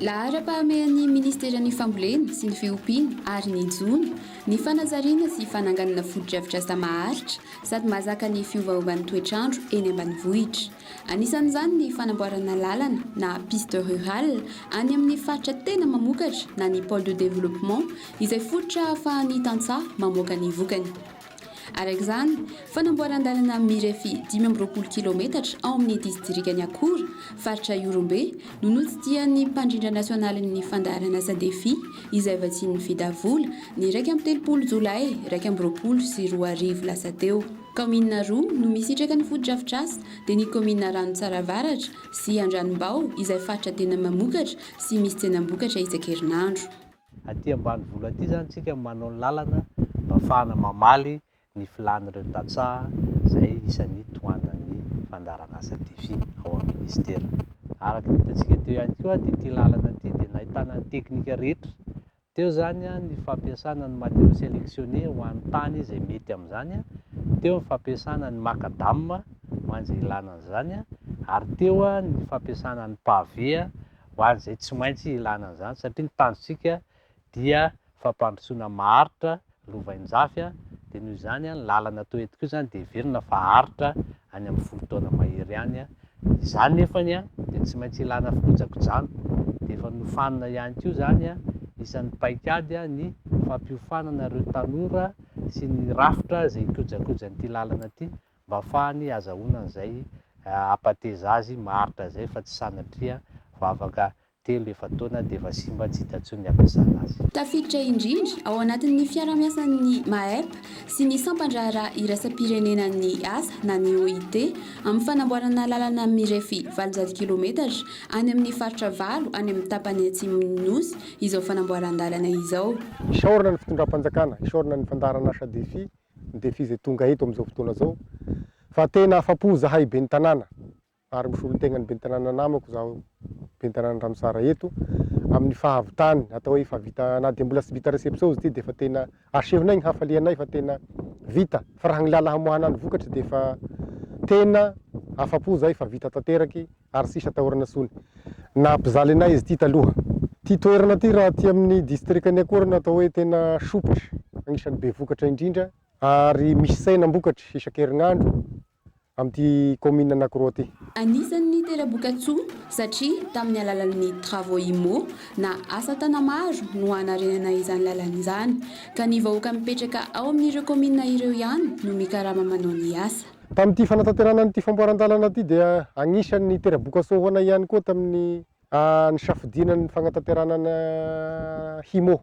Laharam-pahamehan'ny Ministeran'ny Fambolena sy ny Fiompiana ary ny jono ny fanazariana sy fananganana fotodrafitrasa maharitra sady mahazaka ny fiovaovan'ny toetr'andro eny ambanivohitra. Anisan'izany ny fanamboarana lalana na piste rurale any amin'ny faritra tena mamokatra na ny pole de développement izay fototra ahafahan'ny tantsaha mamoaka ny vokany. Araka izany, fanamboaran-dalana mirefy dimy amby roapolo kilaometatra ao amin'ny disitrikan'i Akora, faritra Ihorombe, no notsidihan'ny mpandrindra nasionalin'ny fandaharan'asa Defi izay vatsian'ny Fidavola ny iraika amby telopolo jolay iraika amby roapolo sy roa arivo lasa teo. Kaominina roa no misitraka ny fotodrafitrasa dia ny kaominina Ranotsara Avaratra sy Andranombao izay faritra tena mamokatra sy misy tsenam-bokatra isan-kerinandro. Aty ambanivolo aty izany isika no manao ny lalana mba hahafahana mamaly ny filan'ireo tantsaha izay isan'ny tohanan'ny fandaharanasa Defi ao amin'ny Minisitera. Araka ny hitantsika teo ihany koa dia ity lalana ity dia nahitana ny teknika rehetra Teo izany ny fampiasana ny matériaux sélectionnés ho an'ny tany izay mety amin'izany, teo ny fampiasana ny macadam ho an'izay ilana an'izany ary teo ny fampiasana ny pavé ho an'izay tsy maintsy ilana an'izany satria ny tanjontsika dia fampandrosoana maharitra lovainjafy a, dia noho izany a ny lalana toa eto koa izany dia heverina fa haharitra any amin'ny folo taona mahery any a, izany nefany a dia tsy maintsy ilana fikojakojana, dia efa nofanina ihany koa izany a, isan'ny paikady a ny fampiofanana ireo tanora sy ny rafitra izay hikojakojan'ity lalana ity mba hafahany hazahoana an'izay hampateza azy maharitra izay fa tsy sanatria vavaka Telo efa-taona dia efa simba tsy hita intsony ny hampiasana azy. Tafiditra indrindra ao anatin'ny fiarahamiasan'ny Maep sy ny Sampan-draharaha Iraisam-pirenenan'ny Asa na ny OIT amin'ny fanamboarana lalana mirefy valonjato kilometatra any amin'ny faritra valo any amin'ny tapany atsimon'ny Nosy izao fanamboaran-dalana izao. Isaorana ny fitondram-panjakana, isaorana ny fandaharan'asa Defi, ny Defi izay tonga eto amin'izao fotoana izao fa tena afa-po zahay ben'ny tanàna ary misolo ny tegnan'ny ben'ny tanàna namako izaho ben'ny tanàna Ramosara eto amin'ny fahavitany atao hoe efa vita na dia mbola tsy vita reception izy ity dia efa tena asehonay ny hafalianay fa tena vita fa raha ny lala hamoahana ny vokatra dia efa tena afa-po izahay fa vita tanteraky ary tsisy atahorana intsony na mpizaly anay izy ity taloha ity toerana ity raha aty amin'ny distrikan'i Akorana atao hoe tena sopitra agnisan'ny be vokatra indrindra ary misy saina mbokatra isan-kerinandro amin'ity kaominina anankiroa ity. Anisan'ny tera-bokatsoa satria tamin'ny alalan'ny travaux IMO na asa tana-maro no hanarenana izany lalana izany, ka ny vahoaka mipetraka ao amin'ireo kaominina ireo ihany no mikarama manao ny asa. Tamin'ity fanatanterahana an'ity famboaran-dalana ity dia anisan'ny tera-bokatsoa ho anay ihany koa tamin'ny nisafidiana ny fanatanterahana ny HIMO.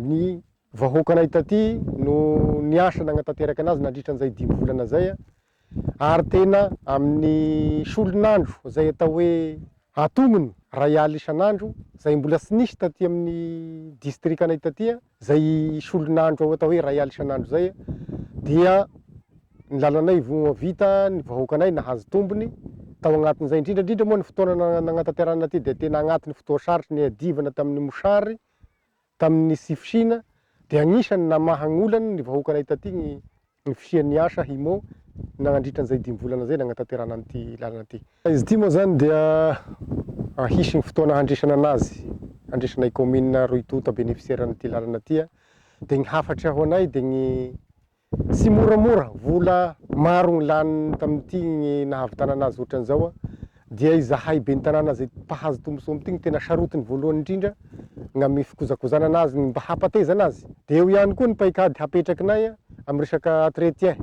Ny vahoakanay taty no niasa nagnatanteraka anazy nandritra an'izay dimy volana izay, ary tena amin'ny solon'andro izay atao hoe antognony, iray alina isan'andro, izay mbola tsy nisy taty amin'ny distrikanay taty, izay solon'andro atao hoe iray alina isan'andro izay, dia ny lalanay vita, ny vahoakanay nahazo tombony tao agnatin'izay, indrindra indrindra moa ny fotoana nagnatanterahana ity dia tena agnatin'ny fotoan-tsarotra niadivana tamin'ny mosary, tamin'ny tsy fisiana dia anisan'ny namaha an'olana ny vahoakanay taty ny ny fisian'ny asa HIMO nagnandritra an'izay dimy volana izay nagnatanterahana an'ity lalana ity. Izy ity moa izany dia hisy ny fotoana handresana anazy, handresanay kaominina roa tonta benefisiera an'ity lalana ity dia ny hafatry ho anay dia ny Tsy moramora, vola maro ny lany tamin'ity ny nahavitana anazy ohatran'izao an! Dia izahay ben'ny tanàna izay mpahazo tombontsoa amin'ity no tena sarotiny voalohany indrindra ny amin'ny fikojakojana anazy, ny mba hampatezana azy. Dia eo ihany koa ny paikady hapetrakinay amin'ny resaka entretien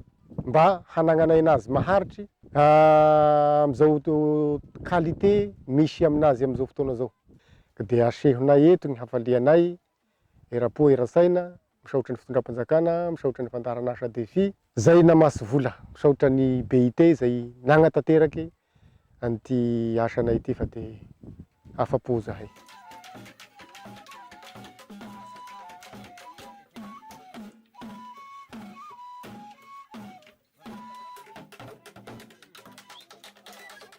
mba hanagnanay anazy maharitry amin'izao qualité misy aminazy amin'izao fotoana izao. Ka dia asehonay eto ny hafalianay Eram-po eran-tsaina, misaotra ny fitondram-panjakana, misaotra ny fandaharan'asa Defi. Zay namasy vola, misaotra ny BIT izay nagnatateraky an'ity asanay ity fa dia afa-po zahay.